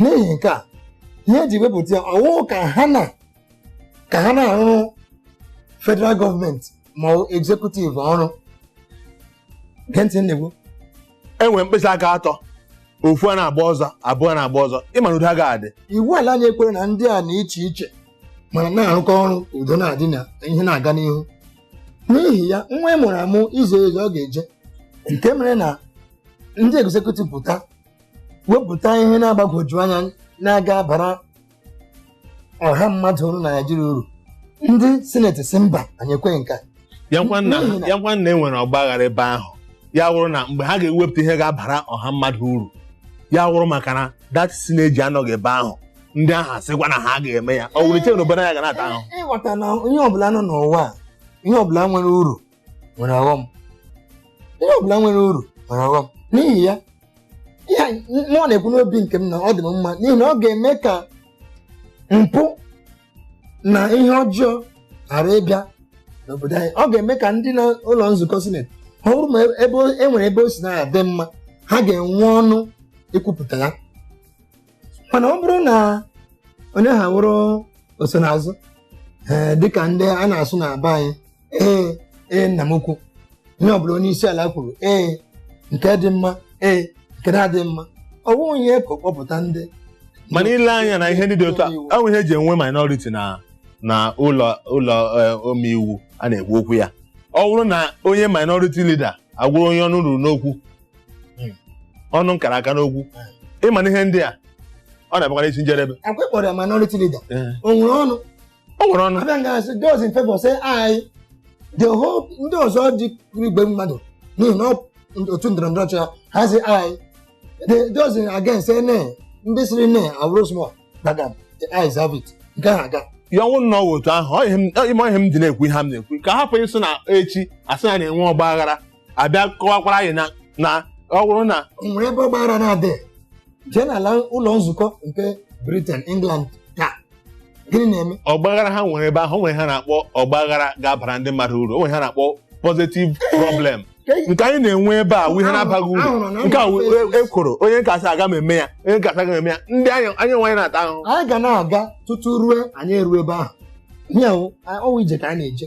n'ihi nke a ihe eji wepụta ya ọwụ ka ha na ka ha na-arụrụ federal gọọmenti ma ọ bụ executive ọrụ gee ntị na-ekwu enwere mkpịsị aka atọ ofu a na-agba ọzọ abụọ na-agba ọzọ ịma na udo agaghị adị iwu ala anyị ekwere na ndị a na iche iche mana na-arụkọ ọrụ udo na-adị na ihe na-aga n'ihu n'ihi ya nwa ị mụrụ amụ i zie ozi ọ ga-eje nke mere na ndị executive pụta wepụta ihe na-agbagwoju anya na-aga abara ọha mmadụ na Naịjirịa uru ndị sineti sị mba anyị ekweghị nke a. ya ngwa nna N'ihi na- ya ngwa nna e nwere ọgba aghara ebe ahụ ya wụrụ na mgbe ha ga-ewepụta ihe ga-abara ọha mmadụ uru ya wụrụ maka na that synergy anọghị ebe ahụ ndị ahụ asịkwa na ha ga-eme ya ọ wụrụ iche na obodo ya ga na-ata ahụ ịghọta na ihe ọbụla nọ n'ụwa a, ihe ọbụla nwere uru nwere ọghọm ihe ọbụla nwere uru nwere ọghọm n'ihi ya ihe anyị- m- mụ na-ekwu n'obi nke m na ọ dị m mma n'ihi na ọ ga-eme ka mpụ na ihe ọjọọ ghara ịbịa n'obodo anyị ọ ga-eme ka ndị na ụlọ nzukọ sineti ọ bụrụ ma ebe o- e nwere ebe o si na-adị mma ha ga-enwe ọnụ ikwupụta ya mana ọ bụrụ na onye ha wụrụ osonaazụ ee dịka ndị a na-asụ na be anyị ee ee nna m ukwu ihe ọbụla onye isi ala kwuru ee nke dị mma ee nke na-adịghị mma ọ bụghị onye ka ọ kpọpụta ndị mana ile anya na ihe ndị dị otu a ọ wụ ihe eji enwe minority na na ụlọ ụlọ eh, omeiwu a na-ekwu okwu ya ọ bụrụ na onye minority leader awụrụ onye ọnụ ruru n'okwu Hmm. ọnụ kara aka n'okwu ịma na ihe ndị a ọ na-abịakwa n'isi njedebe akwa ị kpọrọ ya minority leader Ee. o nwere ọnụ o nwere ọnụ abịa nga a sị those in favor say aye the whole ndị ọzọ dị igwe mmadụ n'ihi na ọ- otu ndọrọ ndọrọ ọchịchị ha ha sị aye the those in against say nay ndị sịrị nay awụrụ small gbagam the ayes have it nke ha aga ya ọwụ nnọọ wụ otu ahụ ọ ihe m- ọ- ime ihe m dị na-ekwu ihe m na-ekwu ka hapụ ịsị na echi asị na na-enwe ọgba aghara abịa kọwakwara anyị na na ọ bụrụ na o nwere ebe ọgbaghara na-adị jee n'ala ụlọ nzukọ nke Britain England taa gịnị na-eme ọgbaghara ha nwere ebe ahụ o nwere ha na-akpọ ọgbaghara ga-abara ndị mmadụ uru o nwere ha na-akpọ positive problem nke anyị na-enwe ebe a wụ ihe na-abaghị uru Ahụrụ na nke a wụ e- ekworo onye nke a sị aga m eme ya onye nke a sị aga m eme ya ndị anyị anyị onwe anyị na-ata ahụhụ anyị ga na-aga tutu ruo anyị eruo ebe ahụ ihe ahụ ọwụ ije ka anyị na-eje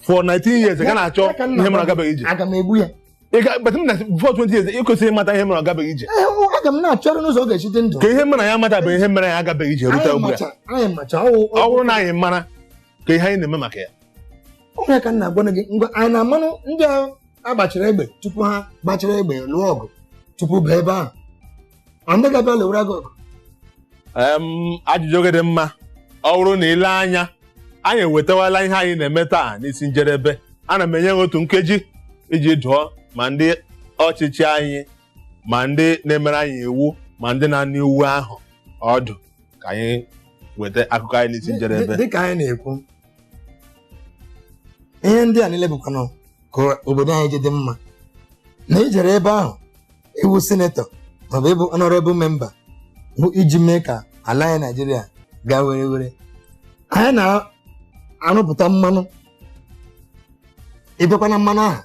for 19 years ị ka na-achọ Ya ka nna ihe mere ọ gabeghị ije aga m egbu ya Ị ga- but m na before 20 years ị kwesịrị ịmata ihe mere ọ gabeghị ije Ee, ọ- aga m na-achọrọ n'ụzọ ọ ga-esi dị ndụ ka ihe mere ya mata bụ ihe mere ya agabeghị ije rute anyị ugbu a macha anyị macha ọwụ ọ bụrụ na anyị mara ka ihe anyị na-eme maka ya onye ka m na-agwa gị ngwa anyị na-amanụ ndị a agbachara egbe tupu ha gbachara egbe lụọ ọgụ tupu baa ebe ahụ Anaghị abịa lụwara gị ọgụ. Em, ajụjụ gị dị mma ọ bụrụ na ile anya anyị ewetawala ihe anyị na-eme taa n'isi njedebe ana m enye gị otu nkeji iji dụọ ma ndị ọchịchị anyị ma ndị na-emere anyị iwu ma ndị na-anụ iwu ahụ ọdụ ka anyị weta akụkọ anyị n'isi njedebe Dị ka anyị na-ekwu ihe ndị a niile bụkwanụ ka obodo anyị ji dị mma na ijere ebe ahụ ịwụ sinetọ maọbụ ịbụ honorable member bụ iji mee ka ala anyị Naịjirịa gaa were were anyị na-arụpụta mmanụ ịbịakwa na mmanụ ahụ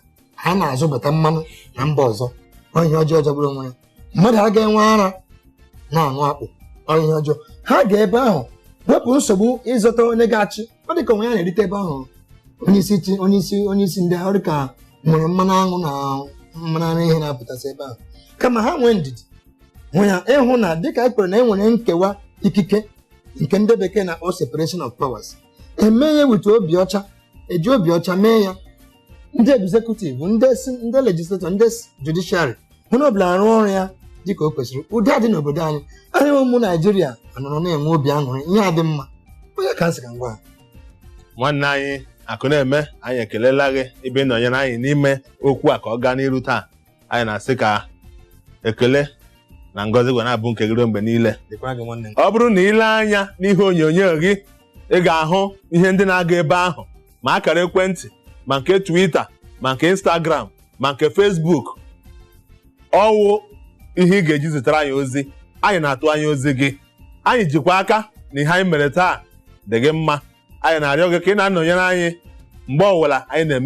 anyị na-azụbata mmanụ na mba ọzọ ọ ihe ọjọọ jọgburu onwe ya mmadụ agaghị enwe ara na-aṅụ akpụ ọ wụ ihe ọjọọ ha ga ebe ahụ wepụ nsogbu ịzọta onye ga-achị ọ dị ka o nwee ihe a na-erite ebe ahụ onye isi chi onye isi onye isi ndị ọ dị ka e nwere mmanụ aṅụ na mmanụ ara ehi na-apụtasị ebe ahụ kama ha nwee ndidi nwee ya ịhụ na dịka e kwere na e nwere nkewa ikike nke ndị bekee na-akpọ separation of powers emee ya with obi ọcha eji obi ọcha mee ya ndị executive ndị si- ndị legislator ndị s- judiciary onye ọbụla arụ ọrụ ya dịka o kwesịrị udo adị n'obodo anyị anyị wụ ụmụ Naịjirịa anọrọ na-enwe obi aṅụrị ihe adị mma onye ka m sị ka m gwa ha? nwanne anyị Akụneme anyị ekelela gị ebe ị nọnyere anyị n'ime okwu a ka ọ gaa n'iru taa anyị na-asị ka ekele na ngọzi kwa na-abụ nke gị ruo mgbe niile dịkwara gị nwanne m ọ bụrụ na ile anya n'ihe onyonyo gị ị ga-ahụ ihe ndị na-aga ebe ahụ ma akara ekwentị ma nke Twitter ma nke Instagram ma nke Facebook ọwụ ihe ị ga-eji zitere anyị ozi anyị na-atụ anya ozi gị anyị jikwa aka na ihe anyị mere taa dị gị mma anyị na-arịọ gị ka ị na-anọnyere anyị mgbe ọbụla anyị na-eme